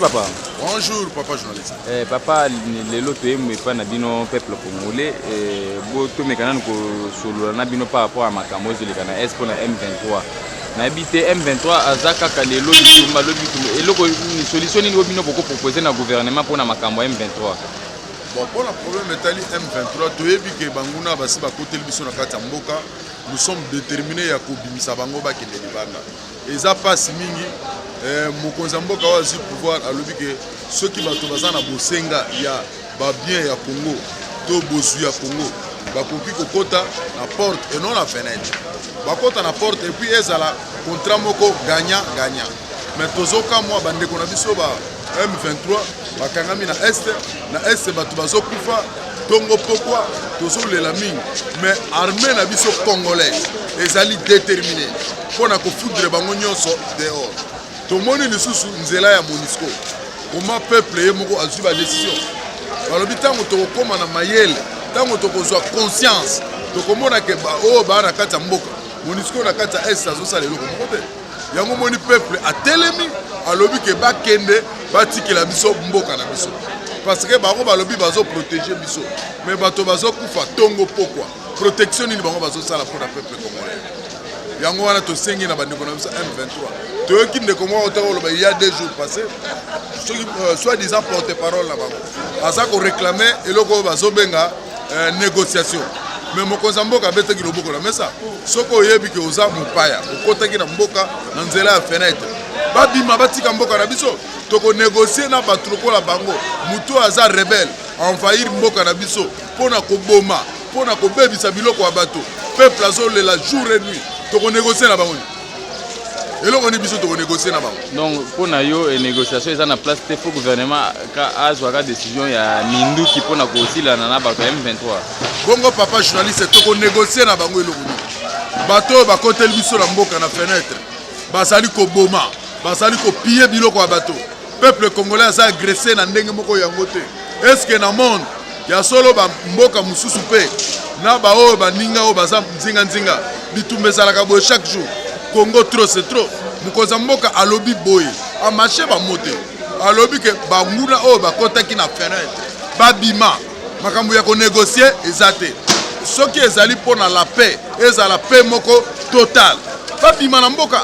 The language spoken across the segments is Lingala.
papa bonjour papa journaliste eh, papa lelo toyembo epai na bino peuple congolais eh, botomeka nanu kosolola na bino par rapport ya makambo ezoleka na est mpo na m23 nayebi te m23 aza kaka lelo litumba lobi litumba eloko solution nini oyo bino bokopropose na gouvernement mpo na makambo ya m23 bon mpo na problème etali m23 toyebi ke banguna basi bakoteli biso na kati ya mboka nous sommes determine ya kobimisa bango bakende libanda eza mpasi mingi eh, mokonzi ya mboka oyo azwi pouvoir alobi ke soki bato baza na bosenga ya babien ya congo to bozwi ya congo bakoki kokɔta na porte et non na fenêtre bakɔta na porte epuis ezala contrat moko gagnant gagnant mais tozokamwa bandeko na biso ba m23 bakangami na este na este bato bazokufa tongo pokwa tozolela mingi mais armée na biso congolaise ezali déterminé mpo na kofudre bango nyonso dehors tomoni lisusu nzela ya monisco koma peuple ye moko azwi badesizio balobi ntango tokokóma na mayele ntango tokozwa conscience tokomona ke baoyo baa na kati ya mboka monisco na kati ya est azosala eloko moko te yango moni peuple atelemi alobi ke bakende batikela biso mboka na biso parce que bango balobi bazoprotege biso mais bato bazokufa ntongo pokwa protection nini bango bazosala mpo na peuple congolais yango wana tosengi na bandeko na biso m23 toyoki ndeko moko otaka koloba ya deux jours passé soki euh, soit disant porte parole na bango aza koreklame eloko oyo bazobenga eh, négociation me mokonzi ya mboka abetaki loboko na mesa soki oyebi ke oza mopaya okotaki na mboka na nzela ya fenetre babima batika mboka na biso tokonegocie na bato lokola bango moto oyo aza rebele envahir mboka na biso mpo na koboma mpo na kobebisa biloko ya bato peuple azolela jour et nuit tokonegocie na bango eloko ni biso tokonegocie na bango donc mpo na yo eh, négociation eza na place te fo gouvernement azwaka décision ya minduki mpo na kosilana na bato ya m23 bongo papa journaliste tokonegocie na bango eloko nini bato oyo bakoteli biso na mboka na fenêtre bazali koboma bazali kopiye biloko ya bato peuple congolais aza agresse na ndenge moko yango te est ce que na monde ya solo bamboka mosusu mpe na baoyo baninga oyo baza nzinganzinga bitumba ezalaka boye chaque jour congo trop c'est trop mokonzi ya mboka alobi boye amashe bango te alobi ke banguna oyo bakotaki na fenêtre babima makambo ya konegocie eza te soki ezali mpo na la paix ezala paix moko totale babima na mboka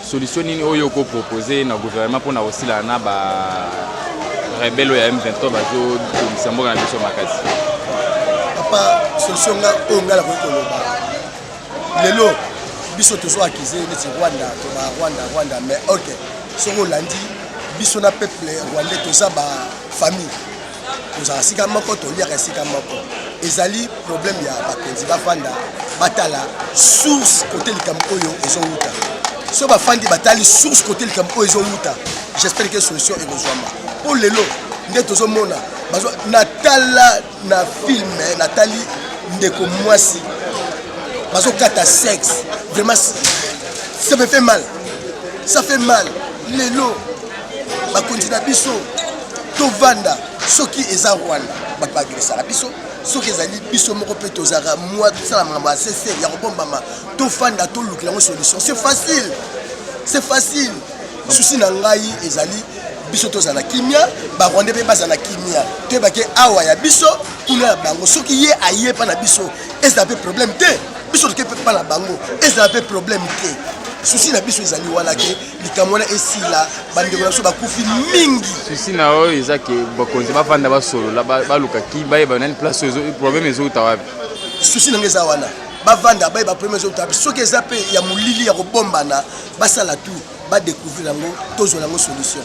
Solution nini oyo oko proposer na gouvernement pona kosila na ba rebelle oyo ya M23 bazo tungisa mboka na biso makasi? Papa, solution nga oyo nga nakoki koloba lelo biso tozo akize neti Rwanda to ba Rwanda Rwanda mais ok soki olandi biso na peuple rwandais toza ba famille tozala esika moko toliaka esika moko ezali problème ya bakonzi bafanda batala source kote likambo oyo ezowuta so bafandi batali source kote likambo oyo ezowuta j'espère que solution ekozwama mpo lelo nde tozomona natala na filme natali ndeko mwasi bazokata sexe vraiment ça me fait mal ça fait mal lelo bakonzi na biso tovanda soki eza rwanda bato baagresaka biso soki ezali biso moko mpe tozalaka mwa tosala makambo ya sese ya kobombama tofanda tolukela yango solution c'est facile c'est facile susi na ngai ezali biso tozala kimia barwande mpe bazala kimia toyebake awa ya biso kuna ya bango soki ye aye mpa na biso ezala mpe problème te biso toke mpe mpa na bango ezala mpe problème te susi na biso ezali wana ke likambo wana esila bandeko na biso bakufi mingi susi na oyo eza ke bakonzi bafanda basolola baluka ki bayeba nani place problème ezouta wapi susi na ngai eza wana bavanda baye bapremier ezouta wapi soki eza mpe ya molili ya kobombana basala tout badecouvrir yango tozwa yango solution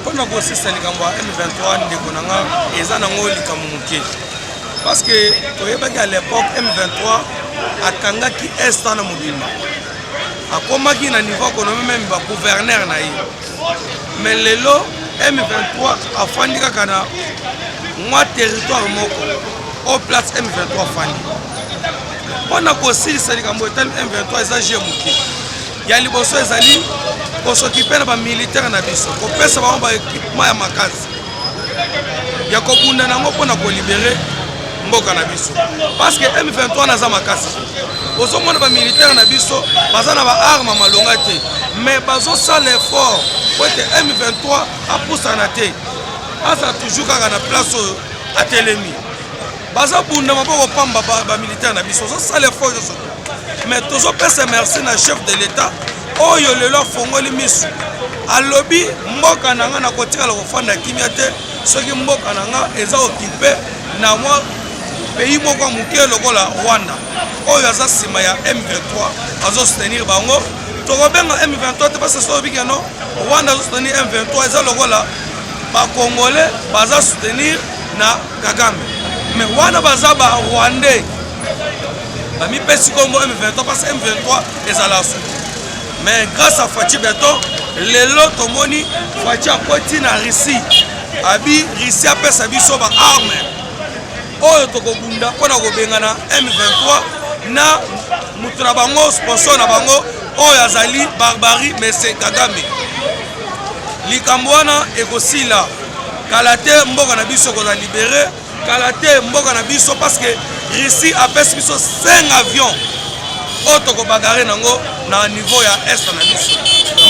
Mpo na kosisa likambo ya M23 ndeko na nga eza nango likambo moke parce que toyebaki à l'époque M23 akangaki est na mobimba akomaki na niveau akonomi meme bagouverneur na ye me lelo m23 afandi kaka na mwa territoire moko o place m23 afandi mpo na kosilisa likambo etali m23 eza je moke Ya liboso ezali kosokipe na ba militaire na biso, kopesa bango ba equipement ya makasi ya kobunda na yango mpo na kolibere mboka na biso parce que M23 naza makasi ozomona bamilitaire na biso baza na baarme malonga te mais bazosala effort po ete M23 apusana te aza toujours kaka na place oyo atelemi bazo bunda maboko pamba ba militaire na biso ozo sala effort nyonso mais tozo pesa merci na chef de l'etat oyo lelo afongoli misu alobi mboka na nga nakotikala kofanda kimia te soki mboka na nga eza okipe na mwa pays moko ya moke lokola rwanda oyo aza nsima ya m23 azo soutenir bango tokobenga m23 te basi soki obiki yano rwanda azo soutenir m23 eza lokola bakongole baza soutenir na Kagame mais wana baza ba rwandais bamipesi nkombo M23 parce M23 ezala suki mais grâce à Fatshi Beton lelo tomoni Fatshi akoti na Russie abi Russie apesa biso ba arme oyo tokobunda mpo na kobengana M23 na moto na bango sponsor na bango oyo azali barbarie mese Kagame likambo wana ekosila kala te mboka na biso ekozala libere kala te mboka na biso parce que russie apesi biso 5 avion oyo tokobagare nango na niveau ya est na biso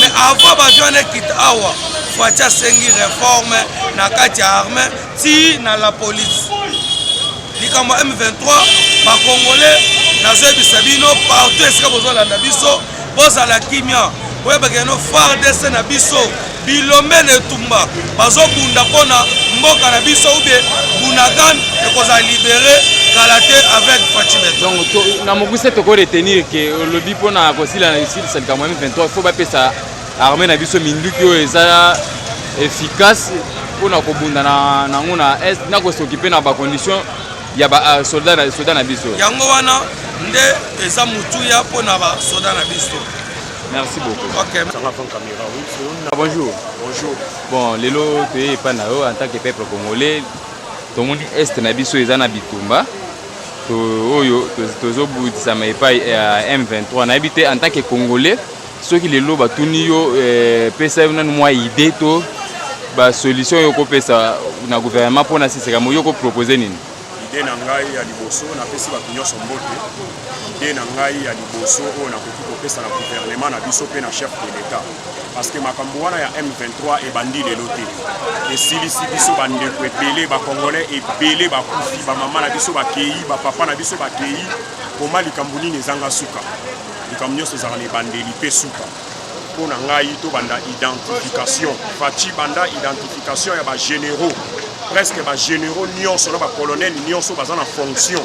mais avant baavion wana ekita awa fati asengi reforme na kati ya arme ti na la police likambo ya m23 bakongolais nazoyebisa bino partout esika bozolanda biso bozala kimia boyebaka yano fardc na biso Bilombe na etumba bazobunda mpo na mboka na biso ube Bunagan ekozala libere kala te avec Fatshi Beton. Donc to, na mokuse toko retenir ke olobi mpo na kosila na kosilisa likambo ya M23 il faut bapesa armée na biso minduki oyo eza efficace mpo na kobunda nango na, na est na kosokipe na bacondition ya basoda euh, na, soda na biso. Yango wana nde eza motuya mpo na basoda na biso. Merci beaucoup. Ok. Ça va avant caméra, oui. Ah, bonjour. Bonjour. Bon, lelo toye epa na yo en tant que peuple congolais. Tomoni est na biso eza na bitumba. To oyo tozo budisama epai ya eh, M23. Nayebi te en tant que congolais soki lelo batuni yo eh, pesa yo nanu mwa idée to ba solution yo kopesa na gouvernement mpo na siseka mo yo kopropose nini? Idee na ngai ya liboso, napesi bato nyonso mbote. Idee na ngai ya liboso oyo nakoki kopesa na guvernema na biso mpe na chef de l'etat, parce que makambo wana ya M23 ebandi lelo te, esilisi biso bandeko ebele, bakongolais ebele bakufi, bamama na biso bakei, bapapa na biso bakei, koma likambo nini ezanga suka? Likambo nyonso ezalaka na ebandeli mpe suka. Mpo na ngai to banda identification Fatshi banda identification ya ba généraux presque ba généraux nionso na ba colonel nionso baza na fonction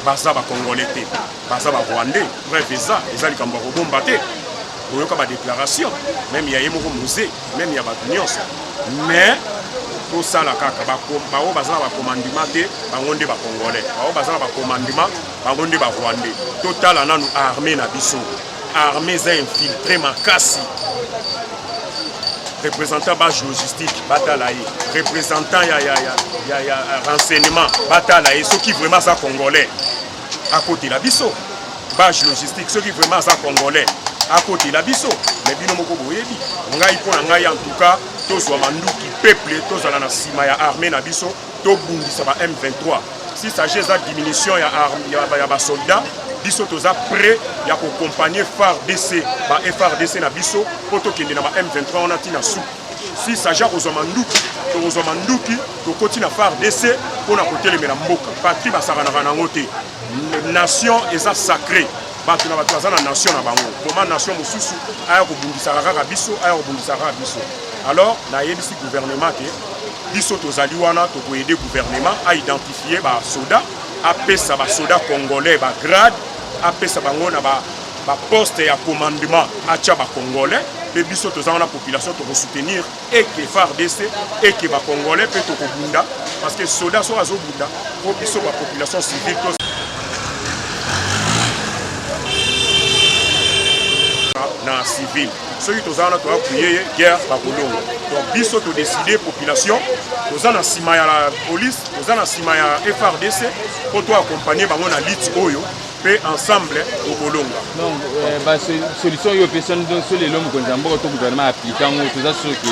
baza ba congolais te baza ba rwandais preuve eza eza likambo ya kobomba te boyoka ba déclaration même ya ye moko musée même ya bato nionso mais tosala kaka baoyo baza na bakomandima te bango nde bacongolais baoyo baza na bakomandima bango nde barwandais totala nanu armée na biso Armée eza infiltré makasi. Représentant ba logistique batala ye. Représentant ya ya ya ya, ya renseignement batala ye soki vraiment aza congolais. Akotela biso ba logistique soki vraiment aza congolais. Akotela biso mais bino moko boyebi. Ngai mpo na ngai en tout cas tozwa manduki peuple tozala na nsima ya armée na biso. tobundisa ba M23 si sage eza diminution ya, ya, ya basoldat biso toza prêt ya kokompagne FARDC ba FARDC na biso mpo tokende na ba M23 wana ntina suku si sage akozwa manduki tokozwa manduki tokoti na FARDC mpo na kotelemela mboka patri basakanaka na yango te nation eza sacré bato na bato baza na nation na bango koma nation mosusu aya kobundisaka kaka biso aya kobundisaka kaka biso alors nayebisi gouvernement ke biso tozali wana tokoyede gouvernement aidentifie basoda apesa basoda congolais bagrade apesa bango na baposte ba ya commandement atya bacongolais mpe biso toza wana population tokosoutenir et que FARDC et que ba congolais pe toko bunda parce que soda so azo bunda po biso ba population civile to na civil soki toza wana toya priye ye guerre bakolongo donc biso todeside population toza na nsima ya la police toza na nsima ya frdc mpo toakompagne bango na lite oyo mpe ensemble tokolonga donc euh, basolution oyo opesani donc so lelo mokonzi ya mboka to gouvernement aplike yango toza soki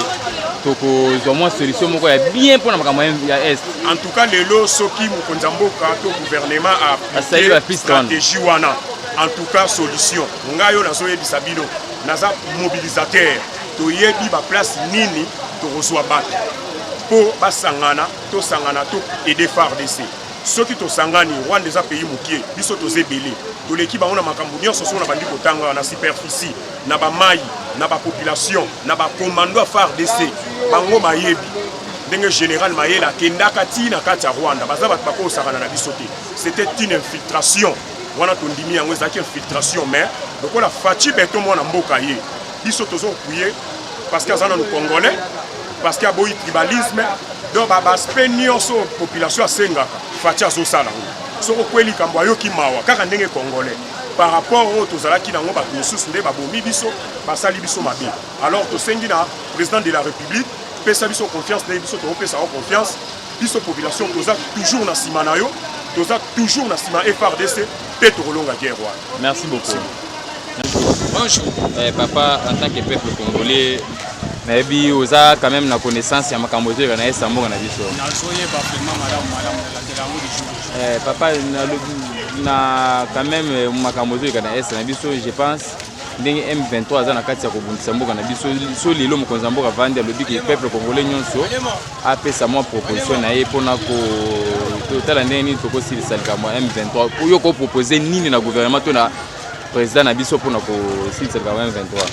tokozwa mwa solution moko ya bien mpo na makambo ya est en tout cas lelo soki mokonzi ya mboka to gouvernement aplike stratégie wana en tout cas solution ngai oyo nazoyebisa bino naza mobilisateur toyebi baplace nini tokozwa bato mpo basangana tosangana to aide fardc soki tosangani rwanda eza pays mokie biso toza ebele toleki bango na makambo nyonso soko nabandi kotanga na superficie na bamai na bapopulation na bacommando ya fardc bango bayebi ndenge général mayela akendaka ti na kati ya rwanda baza bato bakosakana na biso te c'était une infiltration wana tondimi yango ezalaki infiltration mais lokola faci beto mwana mboka ye biso tozo kuye parce que aza nanu congolais parce que aboyi tribalisme donc babaspect nyonso population asengaka faci azosala yango soki okweli likambo ayoki mawa kaka ndenge congolais par rapport oyo tozalaki nango bato mosusu nde babomi biso basali biso mabe alors tosengi na président de la république pesa biso confiance ndenge biso tokopesa yo confiance biso population toza toujours na sima na yo toza toujours na sima FRDC pe tokolonga guerre wana merci beaucoup bonjour eh, papa en tant que peuple congolais nayebi oza quand même na connaissance ya makambo ezoyeba na esa mboka na biso nazoyeba vraiment malamu malamu nalandela yango lisusu eh, papa nalobi na quand même eh, makambo ezoyeka na esa na biso je pense ndenge m23 aza na kati ya kobundisa mboka na biso so lelo mokonzi ya mboka vandi alobi ke peuple congolais nyonso apesa mwa proposition na ye mpona kotala ndenge nini tokosilisa likambo ya M23 mpo yo kopropose nini na gouvernement to na président na biso mpona kosilisa likambo ya M23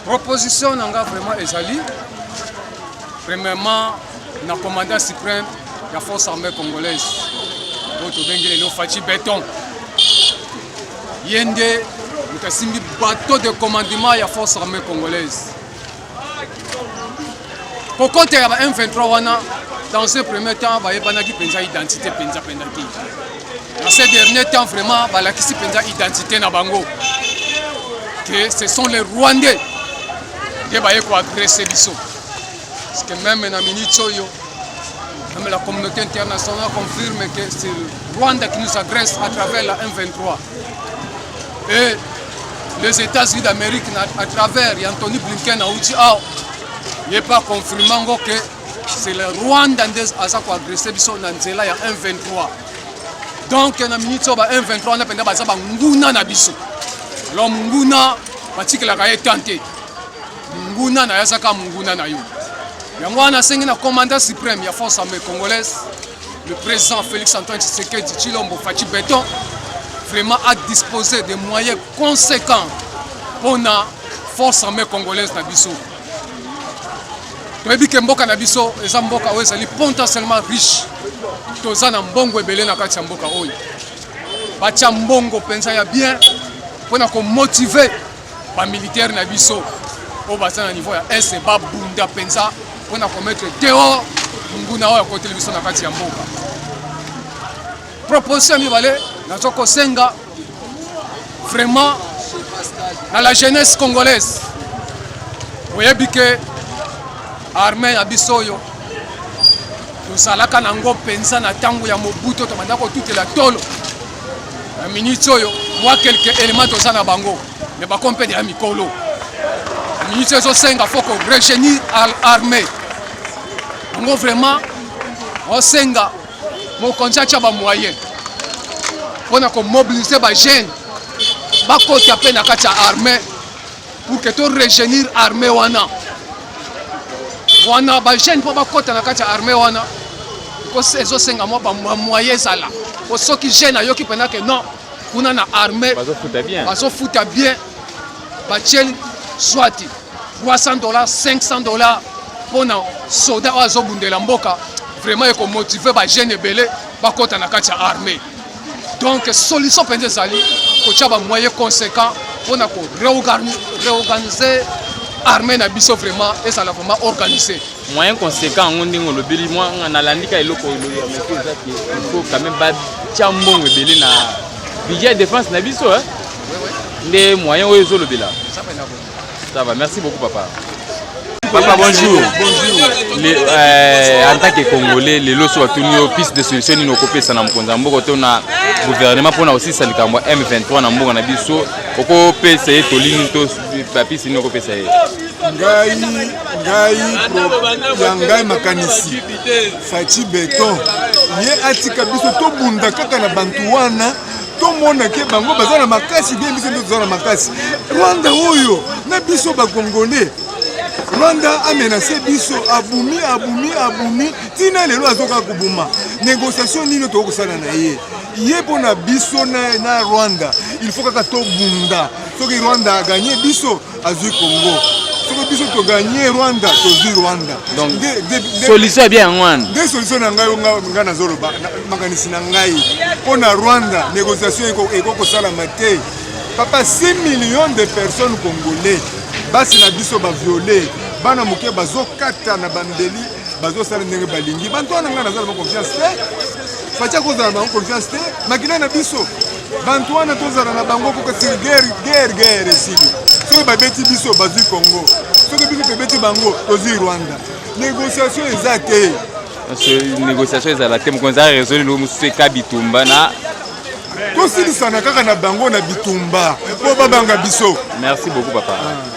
proposition na nga vraiment ezali premièrement na commandant suprême ya force armée congolaise oyo tobengi lelo faci beton ye nde moto asimbi bateau de commandement ya force armée congolaise kokota ya ba M23 wana dans ce premier temps bayebanaki mpenza identité mpenza mpenza te na ce dernier temps vraiment balakisi mpenza identité na bango que ce sont les rwandais nde baye koagresse biso parce que même na minute oyo même la communauté internationale confirme que c'est rwanda qui nous agresse à travers la m23 Et les États-Unis d'Amérique, à travers Anthony Blinken, a dit, ah, il n'est pas confirmé que c'est le Rwanda qui a agressé biso na nzela ya 123. Donc na minute so ba 123 na penda baza ba nguna na biso. Lo nguna batikela ka etante. Nguna na yasaka nguna na yo. Yango wana sengi na commandant suprême ya force armée congolaise Le président Félix Antoine Tshisekedi Tshilombo Fatshi Beton vraiment a disposé des moyens conséquents pour la force armée congolaise na biso. toyebi ke mboka na biso eza mboka oyo ezali potentiellement riche toza na mbongo ebele na kati ya mboka oyo batya mbongo mpenza ya bien mpo na komotive Ba militaires na biso oyo baza na niveau ya est babunda mpenza mpo na komettre dehors monguna oyo akoteli biso na kati ya mboka. Proposition ya mibale nazo kosenga vraiment na la jeunesse congolaise oyebi ke arme ya biso oyo tozalaka nango mpenza na ntango ya mobuto tobanda kotutela tolo na minute oyo mwa kelke element toza na bango me bakompede ya mikolo na minute oyo ezosenga fo ko regenir armée yango vraiment osenga mokonzi atya bamoyen mpo na komobilize bajeune bakota mpe na kati ya armée pour que to rejeunir armée wana wana ba jeune mpo bakota na kati ya armée wana ezosenga mwa bamoye ezala po soki jeune ayoki mpenza ke non kuna na armée bazofuta bien batieli swati 300 dollars 500 dollars mpo na soda oyo azobundela mboka vraiment ekomotive bajeune ebele bakota na kati ya armée Donc solution penza ezali kotia ba moyens conséquents pona ko réorganiser armée na biso vraiment ezala vraiment organisée. Moyen conséquent yango ndenge olobeli mwa nalandi ka eloko oyo ya meko eza ke il faut quand même batya mbongo ebele na budget ya défense na biso nde moyen oyo ezolobela Ça va, merci beaucoup papa. Papa bonjour. Bonjour. Le, euh, en tant que Congolais, les lois sont tenus piste de solution ni n'okopé ça na mkonza mboko to na gouvernement pona aussi ça likambo M23 na mboko na biso okopé ça to lini to papi sino okopé ça ngai ngai ya ngai makanisi faci beton ye atika biso tobunda kaka na bantu wana tomona ke bango baza na makasi bien biso nde toza na makasi rwanda oyo na biso bakongole rwanda amenase biso abumi abumi abumi ntina lelo azoka kobuma negociation nini tokoki kosala na ye ye mpo na biso na, na rwanda il faut kaka tobunda soki rwanda aganye biso azui congo soki biso toganye rwanda tozwi rwanda donc solution ya bien yango wana nde solution na ngai ngai nazoloba makanisi na ngai mpo na rwanda négociation ekoki kosalama te papa 6 million de personnes congolais basi na biso baviole bana moke bazokata na bambeli bazosala ndenge balingi bantu wana ngai nazala ba confiance te faci akozala bango confiance te makila na biso bantu wana tozala na bango koka sili guerre guerre guerre esili soki babeti biso bazwi congo soki biso tobeti bango tozwi rwanda négociation eza te négociation ezala te mokonzi aresoli lo mosusu eka bitumba na tosilisana kaka na bango na bitumba mpo babanga biso merci beaucoup papa ah.